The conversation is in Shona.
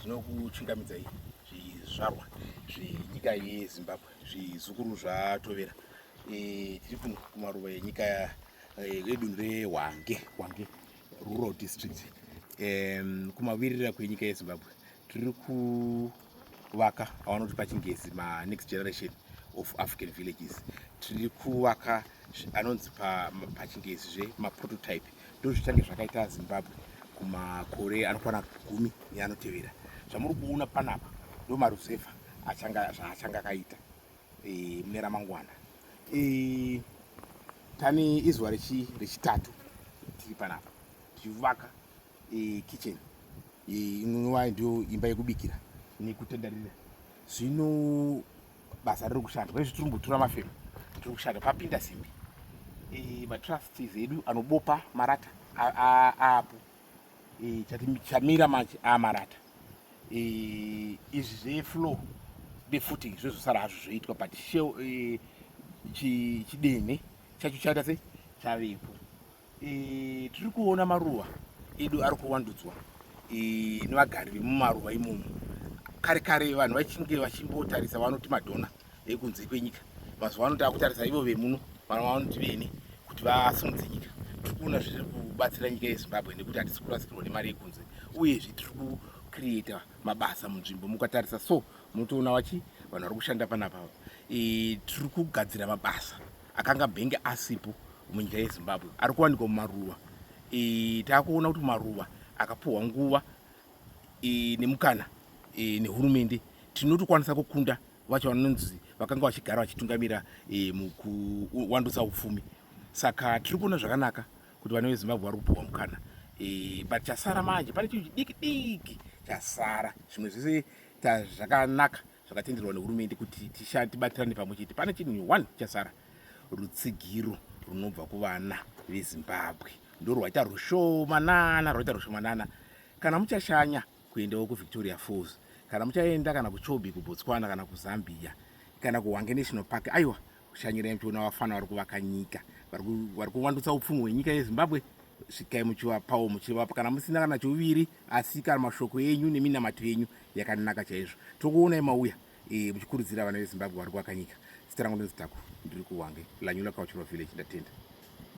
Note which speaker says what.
Speaker 1: zvinokuchungamidzai zvizvarwa zvenyika yezimbabwe zvizukuru zvatovera e, tiri kuno kumaruva enyika yedunhu e, rehwange hwange rural district kumavirira kwenyika yezimbabwe tiri kuvaka avanoti pachingezi manext generation of african villages tiri kuvaka anonzi pachingezi zve maprototype ndozvichange zvakaita zimbabwe kumakore anokwana gumi neanotevera zvamuri kuona panapa ndo maruzevha zvaachanga akaita e, mune ramangwana e, tane izuva rechitatu tiri panapa tichivaka e, kitchen inova e, ndiyo imba yekubikira nekutendarira zvino basa riri kushanda pane zviturumbu tura mafemo tiri kushanda papinda simbi e, matrusts edu anobopa marata aapo e, chamira manje amarata e, izvi zveflow defuting zvezosara hazvo zvoitwa but sheo e, chidene chacho chaita sei chavepo E, tiri kuona maruwa edu ari kuwandudzwa e, nevagari vemumaruwa imomo. Kare kare vanhu vachinge vachimbotarisa vanoti madhona ekunze kwenyika, mazuva ano takutarisa ivo vemuno vanhu vanoti vene kuti vasimudze nyika. Tiri kuona zviri kubatsira nyika yeZimbabwe nekuti hatisi kurasikirwa nemari yekunze, uyezve tiri kucreata mabasa munzvimbo. Mukatarisa so munotoona vachi vanhu vari kushanda panapa e, tiri kugadzira mabasa akanga bhenge asipo munyika yezimbabwe ari kuwanikwa mumaruva e, taakuona kuti maruva akapuhwa nguva e, nemukana e, nehurumende tinotokwanisa kukunda vacho vanonzi vakanga vachigara vachitungamira e, mukuwandutsa upfumi saka tiri kuona zvakanaka kuti vana vezimbabwe vari kupuhwa mukana e, but chasara manje pane chinhu chidiki diki chasara zvimwe zvese zvakanaka zvakatenderwa nehurumende kuti tishande tibatirane pamwe chete pane chinhu one chasara rutsigiro runobva kuvana vezimbabwe ndo rwaita rushomanana rwaita rushomanana kana muchashanya kuendawo kuvictoria falls kana muchaenda kana kuchobi kubotswana kana kuzambia kana kuhwange national park aiwa kushanyira mtiona vafana vari kuvaka nyika vari kuvandutsa upfumi hwenyika yezimbabwe svikai muchivapawo muchivapa kana musina kana chouviri asi kana mashoko enyu neminamato yenyu yakanaka chaizvo tokuonai mauya e, muchikurudzira vana vezimbabwe vari kuvaka nyika zita rangu ndinozitako ndiri kuwange lanyula kauchirwa village ndatenda